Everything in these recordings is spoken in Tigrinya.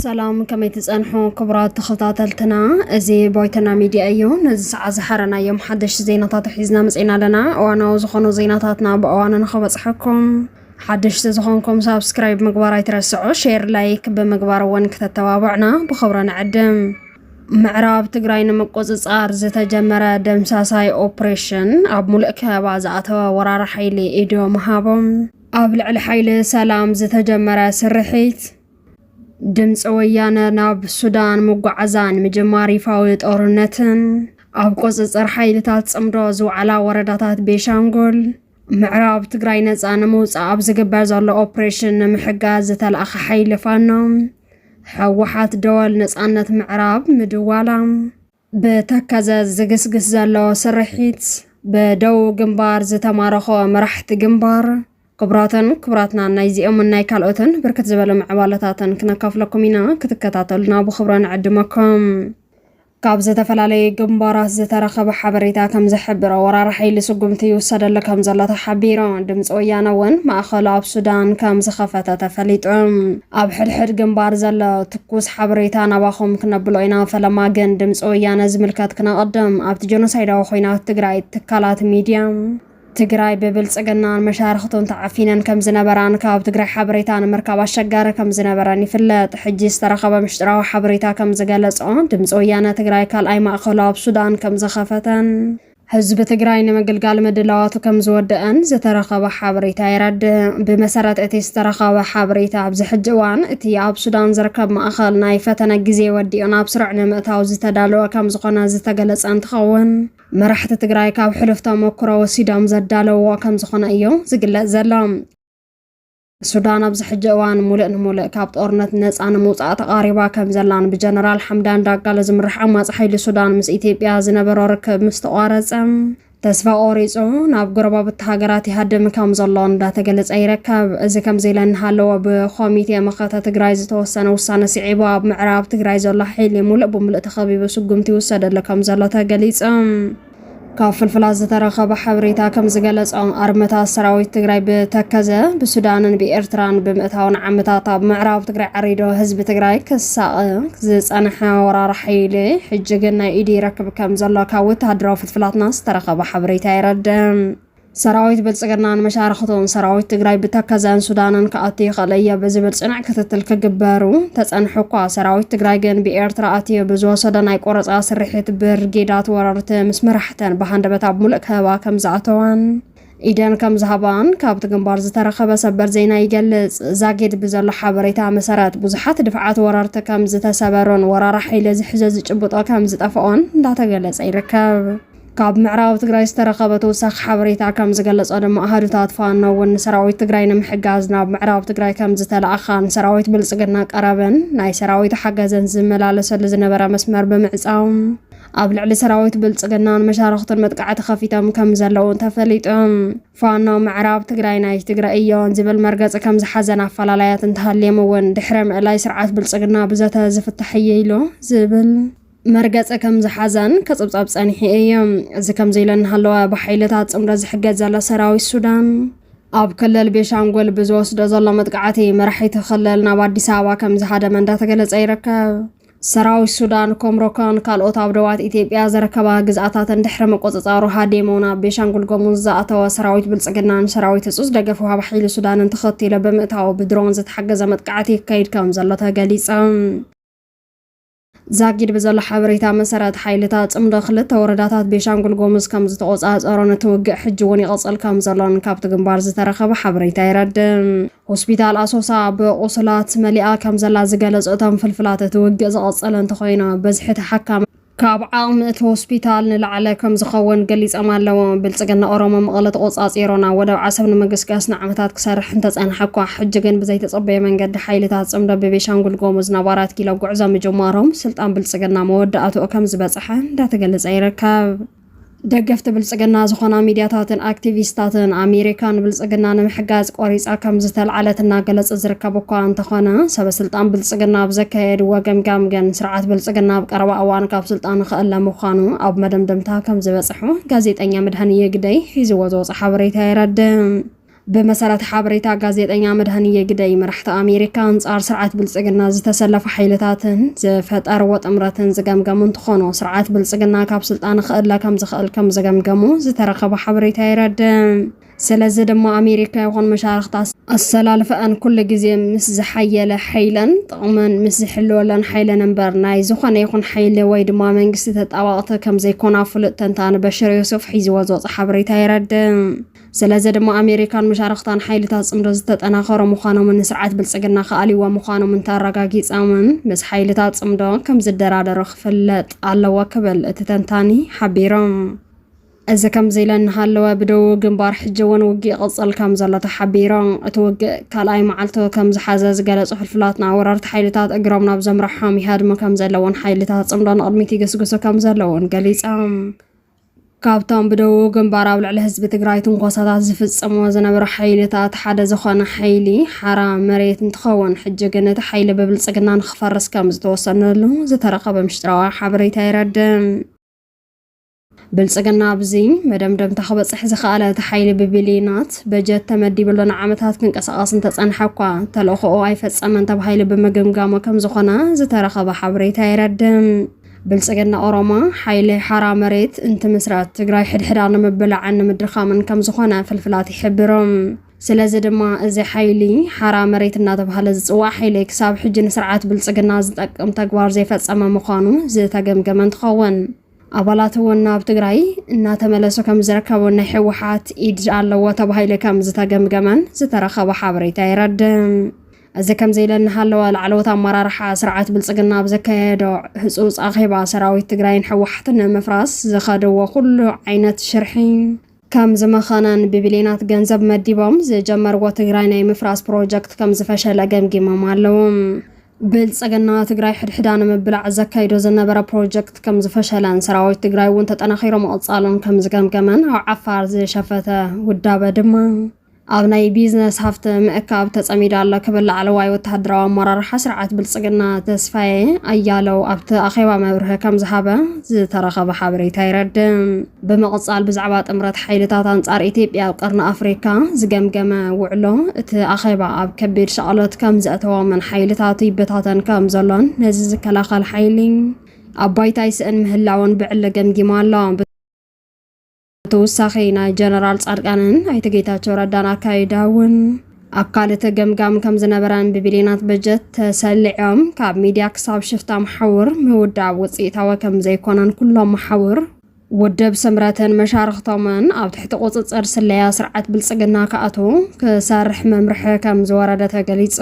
ሰላም ከመይ ትፀንሑ ክቡራት ተኸታተልትና፣ እዚ ባይቶና ሚድያ እዩ። ነዚ ሰዓት ዝሓረናዮም ሓደሽቲ ዜናታት ሒዝና መፅና ኣለና። እዋናዊ ዝኾኑ ዜናታትና ብእዋኑ ንኽበፅሐኩም ሓደሽቲ ዝኾንኩም ሳብስክራይብ ምግባር ኣይትረስዑ፣ ሼር ላይክ ብምግባር እውን ክተተባብዕና ብኽብሪ ንዕድም። ምዕራብ ትግራይ ንምቁፅፃር ዝተጀመረ ደምሳሳይ ኦፕሬሽን ኣብ ሙሉእ ከበባ ዝኣተወ ወራሪ ሓይሊ ኢዶ ምሃቦም ኣብ ልዕሊ ሓይሊ ሰላም ዝተጀመረ ስርሒት ድምፂ ወያነ ናብ ሱዳን ምጓዓዛን ምጅማር ይፋዊ ጦርነትን ኣብ ቁፅፅር ሓይልታት ፅምዶ ዝውዓላ ወረዳታት ቤሻንጉል ምዕራብ ትግራይ ነፃ ንምውፃእ ኣብ ዝግበር ዘሎ ኦፕሬሽን ንምሕጋዝ ዝተላእኸ ሓይሊ ፋኖ ሕወሓት ደወል ነፃነት ምዕራብ ምድዋላ። ብተከዘ ዝግስግስ ዘሎ ስርሒት ብደቡብ ግንባር ዝተማረኾ መራሕቲ ግንባር ክቡራትን ክቡራትና ናይዚኦምን ናይ ካልኦትን ብርክት ዝበለ ምዕባለታትን ክነካፍለኩም ኢና ክትከታተሉና ብክብሮ ንዕድመኩም ካብ ዝተፈላለዩ ግንባራት ዝተረኸበ ሓበሬታ ከም ዝሕብሮ ወራር ሓይሊ ስጉምቲ ይውሰደሉ ከም ዘሎ ተሓቢሩ። ድምፂ ወያነ እውን ማእኸሉ ኣብ ሱዳን ከም ዝኸፈተ ተፈሊጡ። ኣብ ሕድሕድ ግንባር ዘሎ ትኩስ ሓበሬታ ናባኹም ክነብሎ ኢና፣ ፈለማ ግን ድምፂ ወያነ ዝምልከት ክነቕድም። ኣብቲ ጀኖሳይዳዊ ኹናት ትግራይ ትካላት ሚድያ፣ ትግራይ ብብልፅግናን መሻርኽቱን ተዓፊነን ከም ዝነበራን ካብ ትግራይ ሓበሬታ ንምርካብ ኣሸጋሪ ከም ዝነበረን ይፍለጥ። ሕጂ ዝተረኸበ ምሽጥራዊ ሓበሬታ ከም ዝገለፆ ድምፂ ወያነ ትግራይ ካልኣይ ማእኸሉ ኣብ ሱዳን ከም ዘኸፈተን፣ ህዝቢ ትግራይ ንምግልጋል ምድላዋቱ ከም ዝወደኣን ዝተረኸበ ሓበሬታ የረድእ። ብመሰረት እቲ ዝተረኸበ ሓበሬታ ኣብዚ ሕጂ እዋን እቲ ኣብ ሱዳን ዝርከብ ማእኸል ናይ ፈተነ ግዜ ወዲኡ ናብ ስሩዕ ንምእታው ዝተዳለወ ከም ዝኾነ ዝተገለፀ እንትኸውን፣ መራሕቲ ትግራይ ካብ ሕሉፍ ተመክሮ ወሲዶም ዘዳለውዎ ከም ዝኾነ እዩ ዝግለጽ ዘሎ። ሱዳን ኣብዚ ሕጂ እዋን ሙሉእ ንሙሉእ ካብ ጦርነት ነፃ ንምውፃእ ተቓሪባ ከም ዘላን ብጀነራል ሓምዳን ዳጋሎ ዝምራሕ ዓማፂ ሓይሊ ሱዳን ምስ ኢትዮጵያ ዝነበሮ ርክብ ምስ ተቋረፀ ተስፋ ቆሪፁ ናብ ጎረባብቲ ሃገራት ይሃድም ከም ዘሎ እንዳተገለፀ ይርከብ። እዚ ከምዚ ኢለ እናሃለወ ብኮሚቴ መኸተ ትግራይ ዝተወሰነ ውሳነ ስዒቡ ኣብ ምዕራብ ትግራይ ዘሎ ሓይሊ ሙሉእ ብሙሉእ ተኸቢቡ ስጉምቲ ይውሰደሉ ከምዘሎ ተገሊፁ። ካብ ፍልፍላት ዝተረኸበ ሓበሬታ ከም ዝገለጾ ኣርመታት ሰራዊት ትግራይ ብተከዘ ብሱዳንን ብኤርትራን ብምእታው ንዓመታት ኣብ ምዕራብ ትግራይ ዓሪዶ ህዝቢ ትግራይ ክሳቐ ዝጸንሐ ወራር ሓይሊ ሕጂ ግን ናይ ኢዲ ይረክብ ከም ዘሎ ካብ ወተሃደራዊ ፍልፍላትና ዝተረኸበ ሓበሬታ የረድእ። ሰራዊት ብልፅግና ንመሻርኽቱን ሰራዊት ትግራይ ብተከዘን ሱዳንን ክኣቱ ይኽእል እየ ብዝብል ፅኑዕ ክትትል ክግበሩ ተፀንሑ እኳ ሰራዊት ትግራይ ግን ብኤርትራ ኣትዩ ብዝወሰዶ ናይ ቆረፃ ስርሒት ብርጌዳት ወረርቲ ምስ መራሕተን ብሃንደበት ኣብ ሙሉእ ከበባ ከምዝኣተዋን ኢደን ከም ዝሃባን ካብቲ ግንባር ዝተረኸበ ሰበር ዜና ይገልፅ። ዛጊድ ብዘሎ ሓበሬታ መሰረት ብዙሓት ድፍዓት ወረርቲ ከም ዝተሰበሩን ወራራ ሓይሊ ዝሕዞ ዝጭብጦ ከም ዝጠፍኦን እንዳተገለፀ ይርከብ። ካብ ምዕራብ ትግራይ ዝተረኸበ ተወሳኺ ሓበሬታ ከምዝገለፆ ድማ ኣሃዱታት ፋኖ እውን ንሰራዊት ትግራይ ንምሕጋዝ ናብ ምዕራብ ትግራይ ከምዝተለኣኻን ሰራዊት ብልፅግና ቀረብን ናይ ሰራዊት ሓገዘን ዝመላለሰሉ ዝነበረ መስመር ብምዕፃው ኣብ ልዕሊ ሰራዊት ብልፅግናን መሻርኽቱን መጥቃዕቲ ከፊቶም ከም ዘለዉ ተፈሊጡ። ፋኖ ምዕራብ ትግራይ ናይ ትግራይ እዮን ዝብል መርገፂ ከም ዝሓዘን ኣፈላላያት እንተሃልዮም እውን ድሕሪ ምእላይ ስርዓት ብልፅግና ብዘተ ዝፍታሕ እየ ኢሉ ዝብል መርገጺ ከም ዝሓዛን ክጽብጻብ ጸኒሑ እዩ። እዚ ከምዚ ኢለ እናሃለወ ብሓይልታት ጽምዶ ዝሕገዝ ዘሎ ሰራዊት ሱዳን ኣብ ክልል ቤሻንጉል ብዝወስዶ ዘሎ መጥቃዕቲ መራሒቲ ክልል ናብ ኣዲስ ኣበባ ከም ዝሃደመ እንዳተገለጸ ይርከብ። ሰራዊት ሱዳን ኮምሮኮን ካልኦት ኣብ ደባት ኢትዮጵያ ዝርከባ ግዝኣታትን ድሕሪ ምቁፅፃሩ ሃዲሙ ናብ ቤሻንጉል ጎሙዝ ዝኣተወ ሰራዊት ብልፅግናን ሰራዊት ህፁፅ ደገፍ ውሃብ ሓይሊ ሱዳንን ተኸቲሎ ብምእታው ብድሮን ዝተሓገዘ መጥቃዕቲ ይካይድ ከም ዘሎ ተገሊፀ። ዛጊድ ብዘሎ ሓበሬታ መሰረት ሓይልታት ጽምዶ ክልተ ወረዳታት ቤሻንጉል ጎሙዝ ከም ዝተቖጻጸሮን እቲ ውግእ ሕጂ እውን ይቕጽል ከም ዘሎን ካብቲ ግንባር ዝተረኸበ ሓበሬታ የረድእ። ሆስፒታል ኣሶሳ ብቑስላት መሊኣ ከም ዘላ ዝገለጹ እቶም ፍልፍላት እቲ ውግእ ዝቐጸለ እንተኾይኑ በዝሒ ተሓካሚ ካብ ዓቕሚ እቲ ሆስፒታል ንላዕለ ከም ዝኸውን ገሊጾም ኣለዉ። ብልጽግና ኦሮሞ መቐለ ተቖጻጺሮ ናብ ወደብ ዓሰብ ንምግስጋስ ንዓመታት ክሰርሕ እንተጸንሐ እኳ ሕጂ ግን ብዘይተጸበየ መንገዲ ሓይልታት ፅምዶ ብቤሻንጉል ጎሙዝ ናብ ኣራት ኪሎ ጉዕዞ ምጅማሮም ስልጣን ብልፅግና መወዳእትኡ ከምዝበፅሐ እንዳተገለፀ ይርከብ። ደገፍቲ ብልፅግና ዝኾና ሚድያታትን ኣክቲቪስታትን ኣሜሪካ ንብልፅግና ንምሕጋዝ ቆሪፃ ከምዝተልዓለት እናገለፁ ዝርከቡ እኳ እንተኾነ ሰበ ስልጣን ብልፅግና ኣብ ዘካየድዎ ገምጋም ግን ስርዓት ብልፅግና ኣብ ቀረባ እዋን ካብ ስልጣን ክእለ ምዃኑ ኣብ መደምደምታ ከምዝበፅሑ ጋዜጠኛ መድሃንየ ግደይ ሒዝዎ ዝወፀ ሓበሬታ የረድእ። ብመሰረት ሓበሬታ ጋዜጠኛ መድሃንየ ግደይ፣ መራሕቲ ኣሜሪካ ኣንጻር ስርዓት ብልጽግና ዝተሰለፉ ሓይልታትን ዝፈጠርዎ ጥምረትን ዝገምገሙ እንትኾኑ፣ ስርዓት ብልጽግና ካብ ስልጣን ኽእለ ከምዝኽእል ከምዝገምገሙ ዝተረኸበ ሓበሬታ የረድእ። ስለዚ ድማ ኣሜሪካ ይኹን መሻርኽታ ኣሰላልፈኣን ኩሉ ግዜ ምስ ዝሓየለ ሓይለን ጥቕመን ምስ ዝሕልወለን ሓይለን እምበር ናይ ዝኾነ ይኹን ሓይሊ ወይ ድማ መንግስቲ ተጣባቕቲ ከምዘይኮና ፍሉጥ ተንታኒ በሽር ዮሱፍ ሒዝዎ ዝወፀ ሓበሬታ የረድእ። ስለዚ ድማ ኣሜሪካን መሻርኽታን ሓይልታት ጽምዶ ዝተጠናኸሩ ምዃኖምን ንስርዓት ብልጽግና ክኣልይዎ ምዃኖምን ተረጋጊጾምን ምስ ሓይልታት ጽምዶ ከም ዝደራደሩ ክፍለጥ ኣለዎ ክብል እቲ ተንታኒ ሓቢሩ። እዚ ከምዚ ኢለ እናሃለወ ብደቡብ ግንባር ሕጂ እውን ውግእ ይቕጽል ከም ዘሎ ተሓቢሩ። እቲ ውግእ ካልኣይ መዓልቱ ከም ዝሓዘ ዝገለጹ ፍልፍላትና ወረርቲ ሓይልታት እግሮም ናብ ዘምርሖም ይሃድሙ ከም ዘለውን ሓይልታት ጽምዶ ንቕድሚት ይግስግሱ ከም ዘለውን ገሊጾም። ካብቶም ብደቡብ ግንባር ኣብ ልዕሊ ህዝቢ ትግራይ ትንኮሳታት ዝፍፀሞ ዝነበሩ ሓይልታት ሓደ ዝኾነ ሓይሊ ሓራ መሬት እንትኸውን ሕጂ ግን እቲ ሓይሊ ብብልፅግና ንክፈርስ ከም ዝተወሰነሉ ዝተረኸበ ምሽጥራዊ ሓበሬታ ይረድም። ብልፅግና ኣብዚ መደምደምታ ክበፅሕ ዝኸኣለ እቲ ሓይሊ ብቢልዮናት በጀት ተመዲብሉ ንዓመታት ክንቀሳቐስ እንተፀንሐ እኳ ተልእኾኡ ኣይፈፀመን ተባሂሉ ብምግምጋሙ ከም ዝኾነ ዝተረኸበ ሓበሬታ ይረድም። ብልፅግና ኦሮማ ሓይሊ ሓራ መሬት እንትምስረት ትግራይ ሕድሕዳ ንምብላዕን ንምድኻምን ከም ዝኾነ ፍልፍላት ይሕብሩ። ስለዚ ድማ እዚ ሓይሊ ሓራ መሬት እናተባህለ ዝፅዋዕ ሓይሊ ክሳብ ሕጂ ንስርዓት ብልፅግና ዝጠቅም ተግባር ዘይፈፀመ ምዃኑ ዝተገምገመ እንትኸውን ኣባላት እውን ናብ ትግራይ እናተመለሱ ከም ዝርከቡን ናይ ህወሓት ኢድ ኣለዎ ተባሂሉ ከም ዝተገምገመን ዝተረኸበ ሓበሬታ የረድእ። እዚ ከምዚ ኢለ እናሃለወ ላዕለዎት ኣመራርሓ ስርዓት ብልፅግና ኣብ ዘካየዶ ህፁፅ ኣኼባ ሰራዊት ትግራይን ህወሓትን ንምፍራስ ዝኸድዎ ኩሉ ዓይነት ሽርሒ ከም ዝመኸነን ብቢልየናት ገንዘብ መዲቦም ዝጀመርዎ ትግራይ ናይ ምፍራስ ፕሮጀክት ከም ዝፈሸለ ገምጊሞም ኣለዉ። ብልፅግና ትግራይ ሕድሕዳ ንምብላዕ ዘካይዶ ዝነበረ ፕሮጀክት ከም ዝፈሸለን ሰራዊት ትግራይ እውን ተጠናኺሩ ምቕፃሉን ከም ዝገምገመን ኣብ ዓፋር ዝሸፈተ ውዳበ ድማ ኣብ ናይ ቢዝነስ ሃፍቲ ምእካብ ተጸሚዱ ኣሎ ክብል ላዕለዋይ ወተሃደራዊ ኣመራርሓ ስርዓት ብልጽግና ተስፋዬ ኣያለው ኣብቲ ኣኼባ መብርሂ ከም ዝሃበ ዝተረኸበ ሓበሬታ ይረድእ። ብምቕጻል ብዛዕባ ጥምረት ሓይልታት ኣንጻር ኢትዮጵያ ኣብ ቀርኒ ኣፍሪካ ዝገምገመ ውዕሎ እቲ ኣኼባ ኣብ ከቢድ ሻቕሎት ከም ዘእተዎምን ሓይልታቱ ይበታተን ከም ዘሎን ነዚ ዝከላኸል ሓይሊ ኣብ ባይታ ይስእን ምህላውን ብዕሊ ገምጊሙ ኣሎ። ብተወሳኺ ናይ ጀነራል ጻድቃንን ኣይተ ጌታቸው ረዳን ኣካይዳ እውን ኣብ ካልእ ተገምጋም ከም ዝነበረን ብቢልዮናት በጀት ተሰሊዖም ካብ ሚድያ ክሳብ ሽፍታ መሓውር ምውዳብ ውፅኢታዊ ከም ዘይኮነን ኩሎም መሓውር ውድብ ስምረትን መሻርኽቶምን ኣብ ትሕቲ ቁፅፅር ስለያ ስርዓት ብልፅግና ክኣትዉ ክሰርሕ መምርሒ ከም ዝወረደ ተገሊፁ።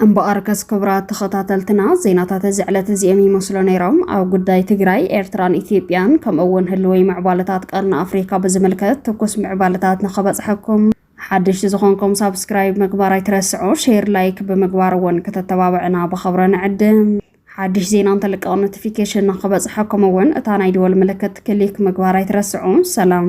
እምበኣርከስ ክቡራት ተኸታተልትና ዜናታት እዚ ዕለት እዚኦም ይመስሉ ነይሮም። ኣብ ጉዳይ ትግራይ፣ ኤርትራን ኢትዮጵያን ከምኡ እውን ህልወይ ምዕባለታት ቀርኒ ኣፍሪካ ብዝምልከት ትኩስ ምዕባለታት ንኸበፅሐኩም ሓድሽቲ ዝኾንኩም ሳብስክራይብ ምግባር ኣይትረስዑ፣ ሼር ላይክ ብምግባር እውን ከተተባብዕና ብኸብረ ንዕድም። ሓድሽ ዜና እንተልቀቕ ኖቲፊኬሽን ንክበፅሐኩም እውን እታ ናይ ደወል ምልክት ክሊክ ምግባር ኣይትረስዑ። ሰላም